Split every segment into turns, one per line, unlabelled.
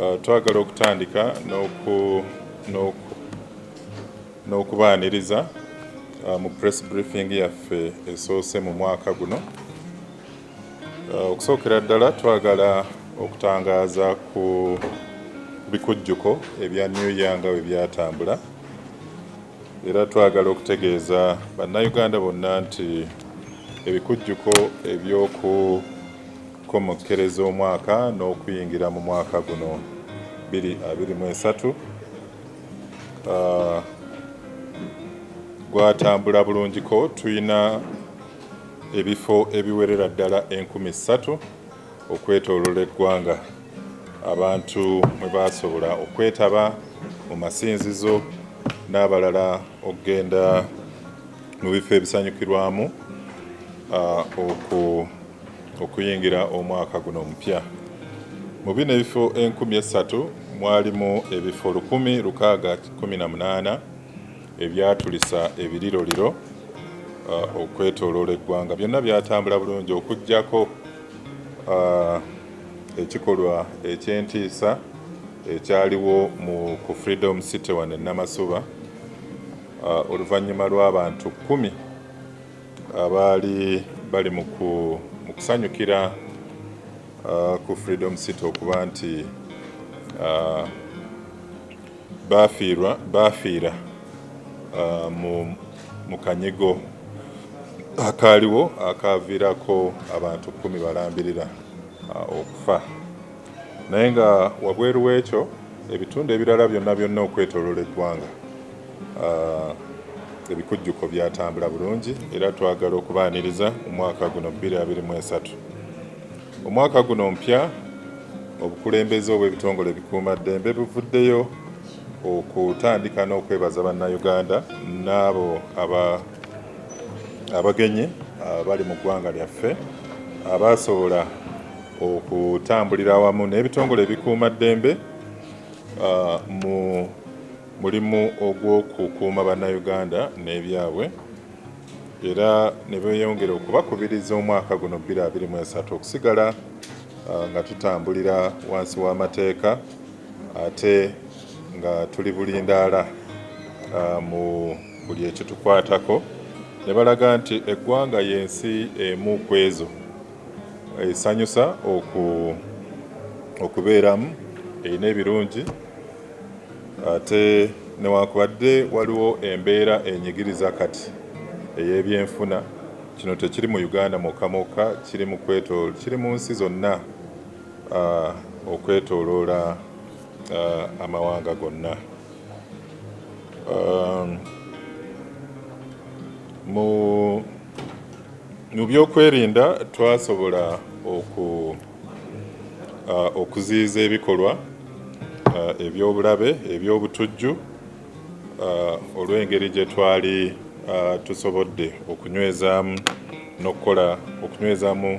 Uh, twagala okutandika n'okubaaniriza uh, mu press briefing yaffe esoose mu mwaka guno uh, okusookera ddala twagala okutangaaza ku bikujjuko ebya new year nga bwe byatambula era twagala okutegeeza bannayuganda bonna nti ebikujjuko eby'oku komokkereza omwaka n'okuyingira mu mwaka guno 2023 ah, gwatambula bulungiko tulina ebifo ebiwerera ddala enkumi ssatu okwetoolola eggwanga abantu mwe baasobola okwetaba mu masinzizo n'abalala okugenda mu bifo ebisanyukirwamu ah, oku Okuyingira omwaka guno omupya, mu bino ebifo enkumi essatu mwalimu ebifo lukumi lukaaga kumi na munaana ebyatulisa ebiriroliro uh, okwetoloola eggwanga. Byonna byatambula bulungi okuggyako uh, ekikolwa eky'entiisa ekyaliwo mu ku Freedom City wano e Namasuba uh, oluvannyuma lw'abantu kkumi Abaali bali mu kusanyukira ku Freedom City okuba nti baafiira mu kanyigo akaaliwo akaaviirako abantu kkumi balambirira okufa naye nga wabweru w'ekyo ebitundu ebirala byonna byonna okwetooloola eggwanga Ebikujjuko byatambula bulungi era twagala okubaaniriza mu mwaka guno 2023. Omwaka guno omupya obukulembeze obw'ebitongole ebikuumaddembe buvuddeyo okutandika n'okwebaza Bannayuganda n'abo abagenyi abali mu ggwanga lyaffe abaasobola okutambulira awamu n'ebitongole ebikuumaddembe mu Mulimu ogw'okukuuma Bannayuganda n'ebyabwe era ne beeyongera okubakubiriza omwaka guno bbiri abiri mu esatu okusigala nga tutambulira wansi w'amateeka ate nga tuli bulindaala mu buli ekitukwatako ne balaga nti eggwanga y'ensi emu ku ezo esanyusa okubeeramu erina ebirungi Ate newankubadde waliwo embeera enyigiriza kati ey'ebyenfuna, kino tekiri mu Uganda mwokka mwokka, kiri mu nsi zonna okwetoloola amawanga gonna. Mu by'okwerinda twasobola oku. okuziyiza ebikolwa eby'obulabe, eby'obutujju olw'engeri gye twali tusobodde okunywezaamu n'okukola okunywezaamu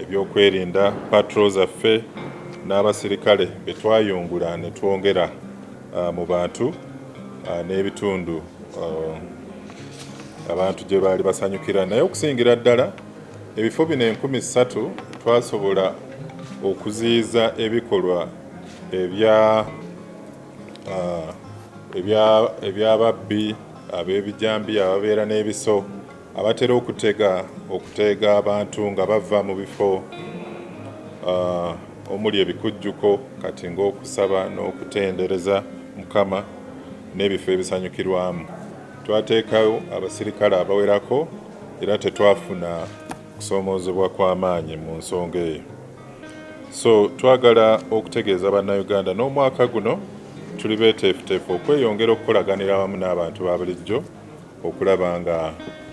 ebyokwerinda patro zaffe n'abasirikale be twayungula ne twongera mu bantu n'ebitundu abantu gye baali basanyukira naye okusingira ddala Ebifo bino enkumi ssatu twasobola okuziyiza ebikolwa ebya eby'ababbi ab'ebijambiya ababeera n'ebiso abatera okutega okuteega abantu nga bava mu bifo omuli ebikujjuko kati ng'okusaba n'okutendereza Mukama n'ebifo ebisanyukirwamu. Twateekawo abasirikale abawerako. era tetwafuna kusoomoozebwa kwa maanyi mu nsonga eyo so twagala okutegeeza bannayuganda n'omwaka guno tuli beeteefuteefu okweyongera okukolaganira awamu n'abantu ba bulijjo okulaba nga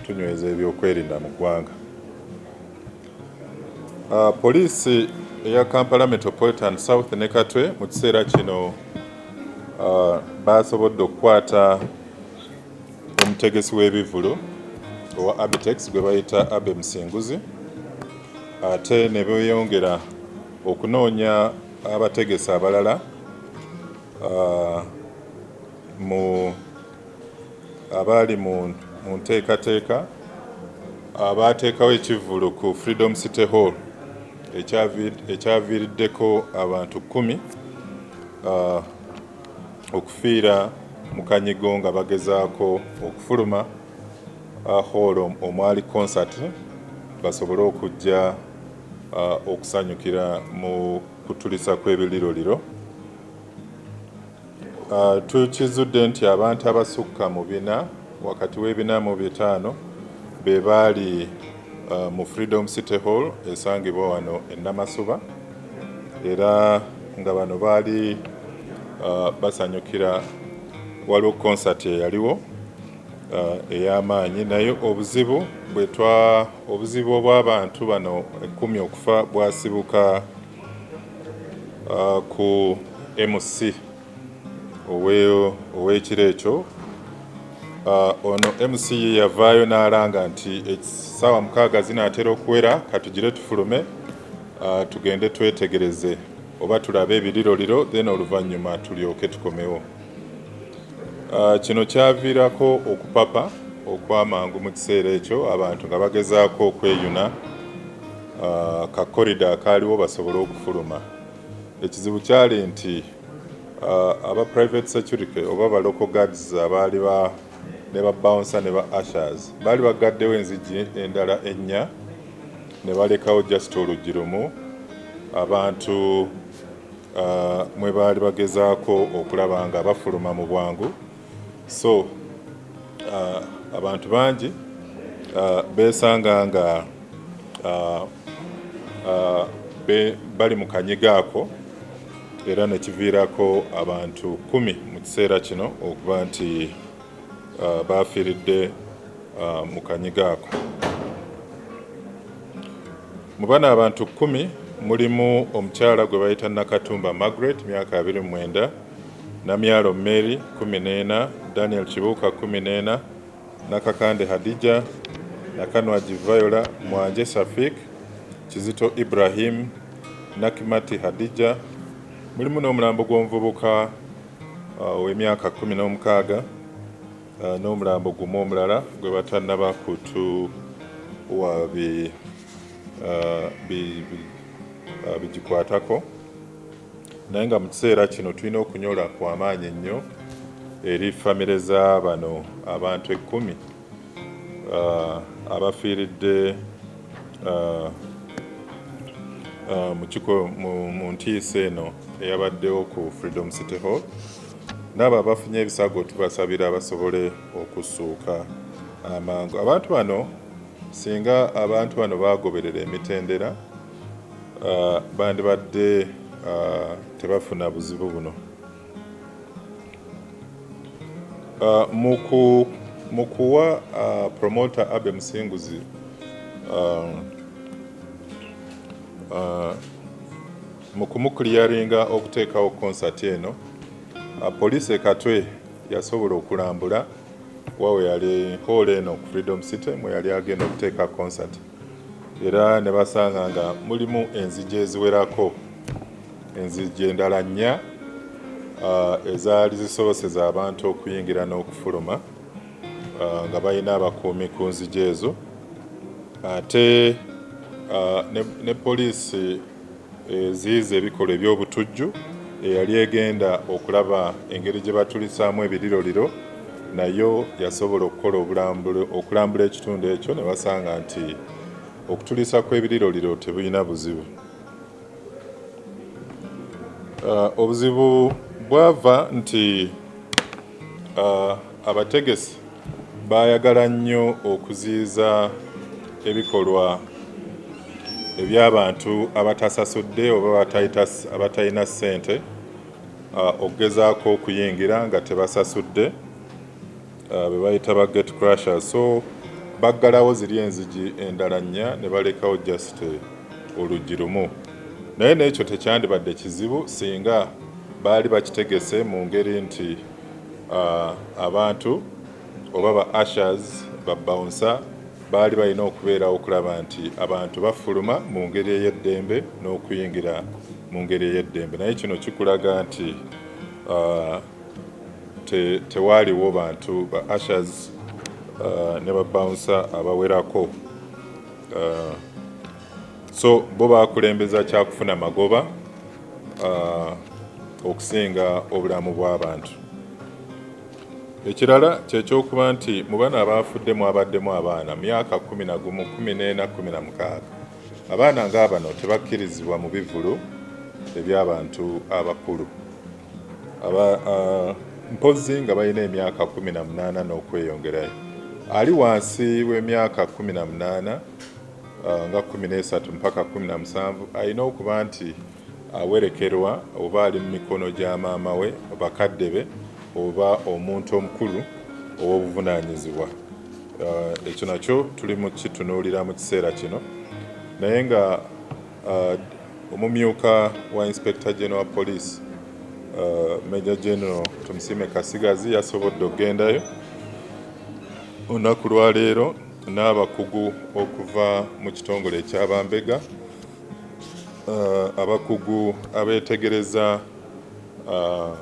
tunyweza ebyokwerinda mu ggwanga ah, poliisi eya kampala metropolitan south ne katwe mu kiseera kino ah, baasobodde okukwata Omutegesi w'ebivvulu owa Abitex gwe bayita Abbey Musinguzi ate ne beeyongera okunoonya abategesi abalala mu abaali mu nteekateeka abaateekawo ekivvulu ku Freedom City Hall ekyaviiriddeko abantu kkumi okufiira mu kanyigo nga bagezaako okufuluma hoolo omwali konsati basobole okujja okusanyukira mu kutulisa kw'ebirliroliro. Tukizudde nti abantu abasukka mu bina wakati w'ebina mu bitaano be baali uh, mu Freedom City Hall esangibwa wano e Namasuba era nga bano baali uh, basanyukira waliwo konsati eyaliwo uh, ey'amaanyi naye obuzibu bwetwa obuzibu obw'abantu bano ekkumi okufa bwasibuka uh, ku MC ow'ekiro ekyo ono MC ye yavaayo n'alanga nti essaawa mukaaga zinaatera okuwera katugire tufulume tugende twetegereze oba tulabe ebiriroliro then oluvannyuma tulyoke tukomewo kino kyaviirako okupapa okwamangu mu kiseera ekyo abantu nga bagezaako okweyuna kakkorida akaaliwo basobole okufuluma Ekizibu kyali nti uh, aba private security oba ba local guards abaali ba ne ba bouncer ne ba ushers baali bagaddewo enzigi endala ennya ne balekawo just oluggi lumu abantu uh, mwe baali bagezaako okulaba nga bafuluma mu bwangu so uh, abantu bangi uh, besanga nga uh, uh, be, bali mu kanyiga ako era nekiviirako abantu kumi mu kiseera kino okuba nti uh, bafiiridde uh, mu kanyiga ako mu bana abantu kumi mulimu omukyala gwe bayita nakatumba margaret myaka 29 Namyalo Mary, kkumi n'ena, Daniel Kibuuka, kkumi n'ena, Nakakande Hadijah, Nakanwagi Viola, Mwanje Shafiq, Kizito Ibrahim, Nakimati Hadijah. Mulimu n'omulambo gw'omuvubuka ow'emyaka kkumi n'omukaaga n'omulambo gumu omulala gwe batannaba kutuwa bigikwatako. naye nga mu kiseera kino tulina okunyola kwa maanyi ennyo eri famire za bano abantu ekkumi uh, abafiiridde uh, uh, mu ntiisa eno eyabaddewo ku Freedom City Hall n'abo abafunye ebisago tubasabira basobole okusuuka amangu abantu bano singa abantu bano bagoberera emitendera uh, bandibadde uh, tebafuna buzibu buno uh, mu kuwa uh, promoter abe musinguzi uh, uh, mu kumukliyaringa okuteekawo konsati eno uh, poliisi ekatwe yasobola okulambula wawe yali hoola eno ku freedom city mwe yali agenda okuteeka konsati era ne basanga nga mulimu enzigi eziwerako, enzigi endala nnya ezaali zisoboseza abantu okuyingira n'okufuluma nga balina abakuumi ku nzigi ezo ate ne poliisi eziyiza ebikolwa eby'obutujju eyali egenda okulaba engeri gye batulisaamu ebiriroliro nayo yasobola okukola okulambula ekitundu ekyo ne basanga nti okutuliisa kw'ebiriroliro tebulina buzibu. Obuzibu bwava nti Abategesi baayagala nnyo okuziyiza ebikolwa eby'abantu abatasasudde oba abatalina ssente okugezaako okuyingira nga tebasasudde be bayita ba gate crusher so baggalawo ziri enzigi endala nnya ne balekawo just oluggi lumu naye n'ekyo tekyandibadde kizibu singa baali bakitegese mu ngeri nti Abantu oba ba ushers, ba bouncer baali balina okubeerawo okulaba nti abantu bafuluma mu ngeri ey'eddembe n'okuyingira mu ngeri ey'eddembe naye kino kikulaga nti uh, te, tewaaliwo bantu ba ushers uh, ne ba bouncer abawerako uh, so bo baakulembeza kyakufuna magoba okusinga obulamu bw'abantu ekirala kyekyokuba nti mu bano abaafudde mwabaddemu abaana myaka kumi na gumu kumi n'ena kumi na mukaaga abaana nga bano tebakkirizibwa mu bivulu eby'abantu abakulu aba uh, mpozi nga balina emyaka kumi na munaana n'okweyongerayo ali wansi w'emyaka kumi na munaana uh, nga kumi n'esatu mpaka kumi na musanvu alina okuba nti awerekerwa oba ali mu mikono gya maama we bakadde be oba omuntu omukulu ow'obuvunaanyizibwa uh, ekyo nakyo tuli mu kitunuulira mu kiseera kino naye nga uh, omumyuka wa inspector general police uh, major general tumusiime kasigazi yasobodde okugendayo olunaku lwaleero n'abakugu okuva mu kitongole ekya bambega uh, abakugu abeetegereza uh,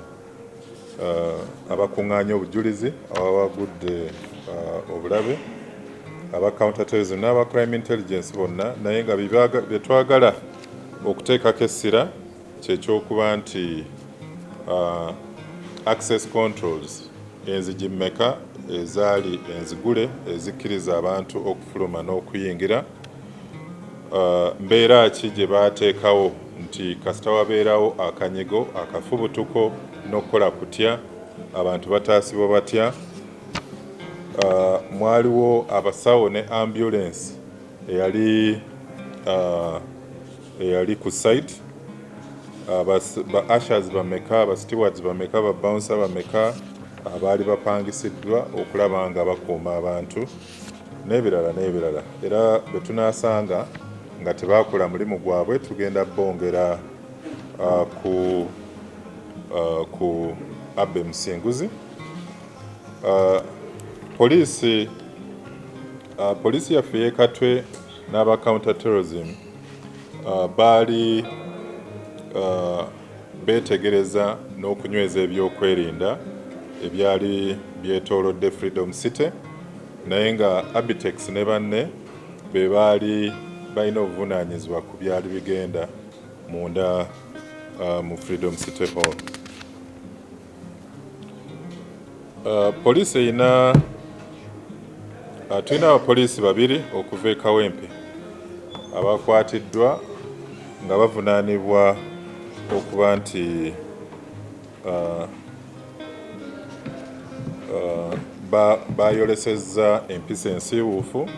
uh, abakuŋŋaanya obujulizi ababagudde uh, obulabe aba counterterrorism n'aba crime intelligence bonna naye nga bye twagala okuteekako essira kyekyokuba nti uh, access controls enzigi mmeka ezaali enzigule ezikkiriza abantu okufuluma n'okuyingira uh, mbeera ki gye baateekawo nti kasita wabeerawo akanyigo akafubutuko n'okukola kutya abantu bataasibwa batya uh, mwaliwo abasawo ne ambulensi eyali uh, eyali ku site ah, ba ashers bameka ba stewards bameka ba bouncer bameka abaali ah, bapangisiddwa okulaba nga bakuuma abantu n'ebirala n'ebirala era bwe tunaasanga nga tebakola mulimu gwabwe tugenda bongera ah, ku ku abbe musinguzi poliisi poliisi yaffe yekatwe n'aba counter terrorism baali beetegereza n'okunyweza ebyokwerinda ebyali byetoolodde Freedom City naye nga Abitex ne banne be baali balina obuvunaanyizibwa ku byali bigenda munda mu Freedom City Hall. Uh, poliisi erina uh, tulina abapoliisi babiri okuva e kawempe abakwatiddwa nga bavunaanibwa okuba nti uh, bayolesezza empisa ensiiwuufu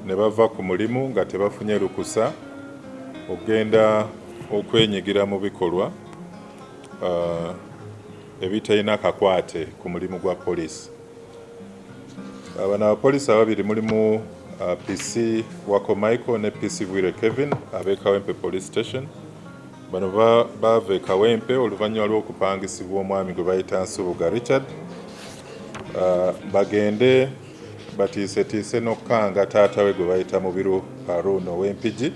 ne bava ku mulimu nga tebafunye lukusa okugenda okwenyigira mu bikolwa uh, ebitalina kakwate ku mulimu gwa poliisi abana abapoliisi ababiri mulimu uh, PC Wako Michael ne PC Bwire Kevin ab'e Kawempe Police Station bano baava e Kawempe oluvannyuma lw'okupangisibwa omwami gwe bayita Nsubuga Richard uh, bagende batiisetiise n'okukanga taata we gwe bayita Mubiru Harun ow'Empigi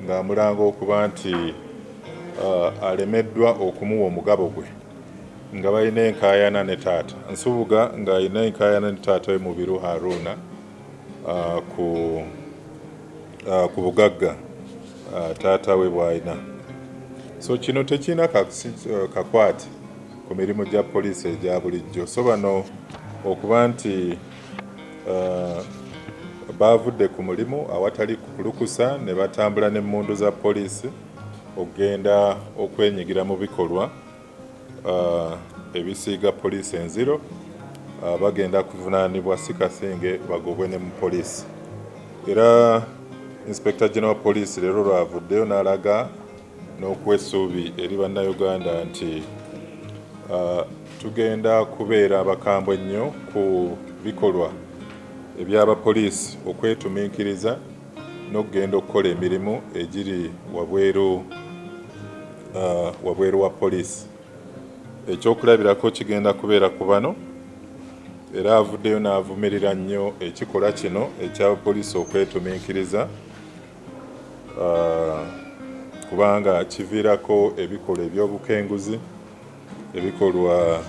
ng'amulanga okuba nti alemeddwa okumuwa omugabo gwe nga balina enkaayana ne taata Nsubuga ng'alina enkaayana ne taata we Mubiru Haruna ku bugagga taata we bw'alina so kino tekirina kakwate ku mirimu gya poliisi egya bulijjo so bano okuba nti baavudde ku mulimu awatali lukusa ne batambula n'emmundu za poliisi okugenda okwenyigira mu bikolwa uh, ebisiiga poliisi enziro uh, bagenda kuvunaanibwa si kasinge bagobwe ne mu poliisi era inspector general poliisi leero lwavuddeyo n'alaga n'okuwa essuubi eri Bannayuganda nti tugenda kubeera abakambwe ennyo ku bikolwa eby'abapoliisi okwetuminkiriza n'okugenda okukola emirimu egiri wabweru wabweru wa poliisi. Ekyokulabirako kigenda kubeera ku bano era avuddeyo n'avumirira nnyo ekikolwa kino eky'abapoliisi okwetuminkiriza uh, kubanga kiviirako ebikolwa eby'obukenguzi ebikolwa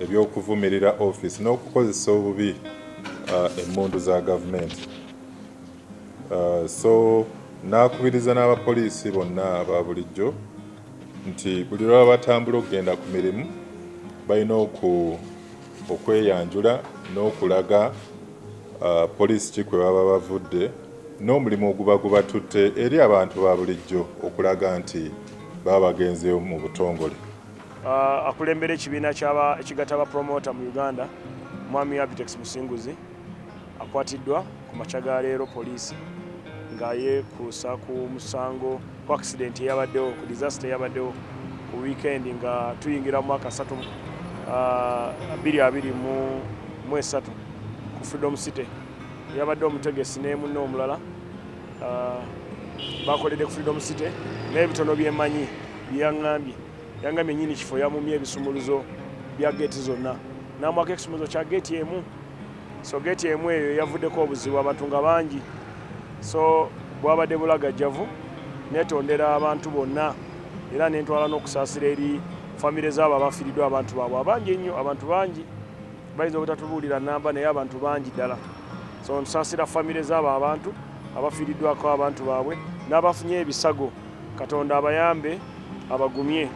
eby'okuvumirira ofiisi n'okukozesa obubi uh, emmundu za gavumenti uh, so n'akubiriza n'abapoliisi bonna aba bulijjo nti buli lwaba batambula okugenda ku mirimu balina okweyanjula n'okulaga uh, poliisi ki kwe baba bavudde n'omulimu oguba gubatutte eri abantu ba bulijjo okulaga nti baba bagenzeewo mu butongole.
Akulembera ekibiina ekigatta ba promoter mu Uganda Mwami Abitex Musinguzi akwatiddwa ku makya ga leero poliisi nga yekuusa ku musango ku accident eyabaddewo ku disaster eyabaddewo ku weekend nga tuyingira mu mwaka satu bbiri abiri mu esatu ku Freedom City. yabadde omutegesi ne munne omulala ah, bakoledde ku freedom city naye ebitono byemanyi byeyaŋambye yangambye nyini kifo yamumye ebisumuluzo bya geeti zonna namwako ekisumuluzo kya geeti emu so geeti emu eyo yavuddeko obuzibu abantu nga bangi so bwabadde bulagajjavu netondera abantu bonna era nentwala n'okusaasira eri famire zaabo abafiriddwa abantu baabwe abangi ennyo abantu bangi Bayinza obutatubuulira nnamba naye abantu bangi ddala. So nsaasira famire z'abo abantu abafiiriddwako abantu baabwe n'abafunye ebisago. Katonda abayambe abagumye.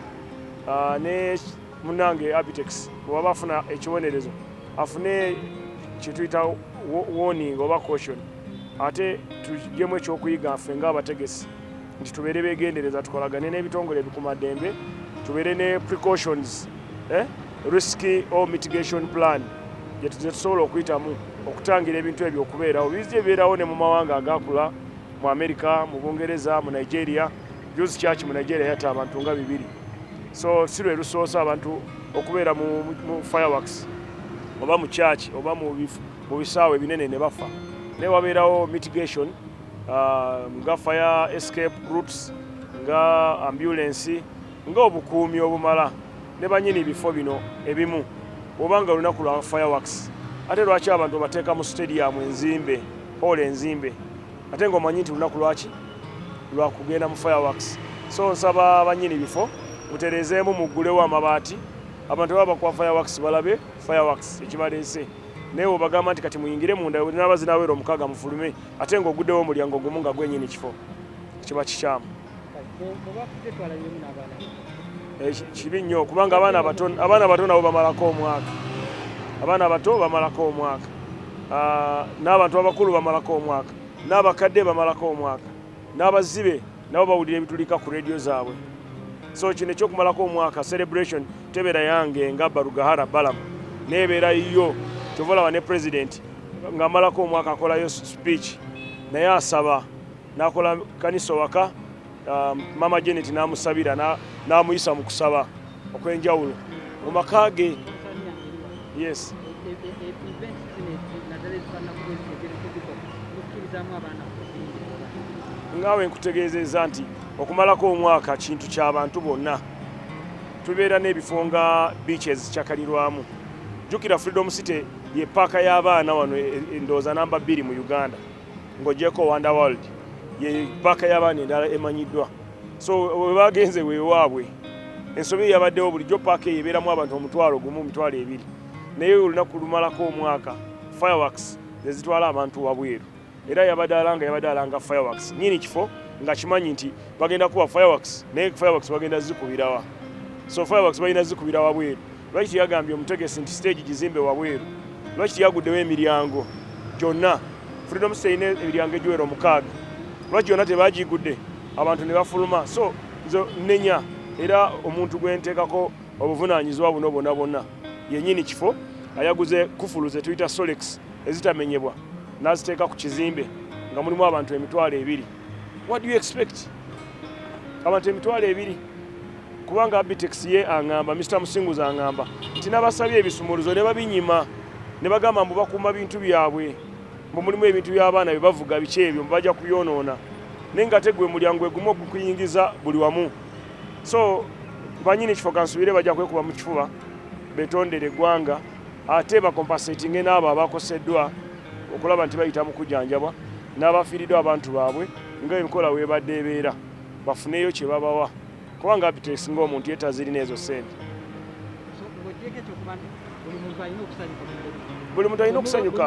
Ah, ne munnange Abitex bwe waba afuna ekibonerezo afune kye tuyita warning oba caution ate tuggyemu ekyokuyiga ffe ng'abategesi nti tubeere begendereza tukolagane n'ebitongole ebikumaddembe tubeere ne precautions eh? risk or mitigation plan gyetusobola okuyitamu okutangira ebintu ebyo okubeerawo bizija ebibeerawo ne mu mawanga agakula mu amerika mu bungereza mu nigeria juzi kyaki mu nigeria yatta abantu nga bibiri so si lwe lusoosa abantu okubeera mu fireworks oba mu kyaki oba mu bisaawo ebinene ne bafa naye wabeerawo mitigation uh, nga fire escape routes nga ambulensi nga obukuumi obumala ne banyini bifo bino ebimu oba nga olunaku lwa fireworks ate lwaki abantu bateeka mu stadium enzimbe hall enzimbe ate nga omanyi nti lunaku lwaki lwakugenda mu fireworks so nsaba banyini bifo muterezeemu muggulewo amabaati abantu baba bakuwa fireworks balabe fireworks ekibaleese naye webagamba nti kati muyingire munda naba zinaweera omukaaga mufulume ate nga ogudewo omulyango gumu nga gwenyini kifo kiba kikyamu eh, kibi nnyo kubanga abaana abato abaana abato nabo bamalako omwaka abaana abato bamalako omwaka ah, n'abantu abakulu bamalako omwaka n'abakadde bamalako omwaka n'abazibe nabo bawulira ebitulika ku radio zaabwe so kino ekyokumalako omwaka celebration tebeera yange nga barugahara balam nebeera yiyo kyova olaba ne president ngaamalako omwaka akolayo speech naye asaba nakola kanisa owaka um, mama janet namusabira namuyisa mu kusaba okw'enjawulo mu maka ge yes ngaawe nkutegeezezza nti okumalako omwaka kintu ky'abantu bonna tubeera n'ebifo nga beaches kyakalirwamu jjukira freedom city ye paaka y'abaana wano e, e, endowooza namba bbiri mu uganda ng'ogyeko wonder world ye paaka y'abaana endala emanyiddwa so webagenze wewaabwe ensobi eyabaddewo bulijjo paaka eyo ebeeramu abantu omutwalo gumu omitwalo ebiri naye olunaku lumalako omwaka fireworks nezitwala abantu wabweru era yabadde alanga yabadde alanga fireworks nyini kifo nga kimanyi nti bagenda kuba fireworks naye fireworks bagenda zikubirawa so fireworks balina zikubira wabweru Lwaki teyagambye omutegesi nti siteegi gizimbe wabweru? Lwaki teyaguddewo emiryango gyonna? Freedom City erina emiryango egiwera omukaaga, lwaki yonna tebagigudde abantu ne bafuluma? So nze nnenya era omuntu gwe nteekako obuvunaanyizibwa buno bwonna bwonna yennyini kifo ayaguze kufulu ze tuyita solex ezitamenyebwa n'aziteeka ku kizimbe nga mulimu abantu emitwalo ebiri what do you expect abantu emitwalo ebiri kubanga Abitex ye angamba Mr Musinguza angamba nti nabasabye ebisumuluzo ne babinyima ne bagamba mbu bakuuma bintu byabwe mbu mulimu ebintu by'abaana bye bavuga biki ebyo mbu bajja kubyonoona naye nga tegwe mulyango egumu okukuyingiza buli wamu so banyini ekifo kansubire bajja kwekuba mu kifuba betondere eggwanga ate bakompasetinge n'abo abakoseddwa okulaba nti bayita mu kujanjabwa n'abafiiriddwa abantu baabwe nga enkola weebadde ebeera bafuneeyo kye babawa kubanga abitex ng'omuntu ye tazirina ezo ssente buli muntu alina okusanyuka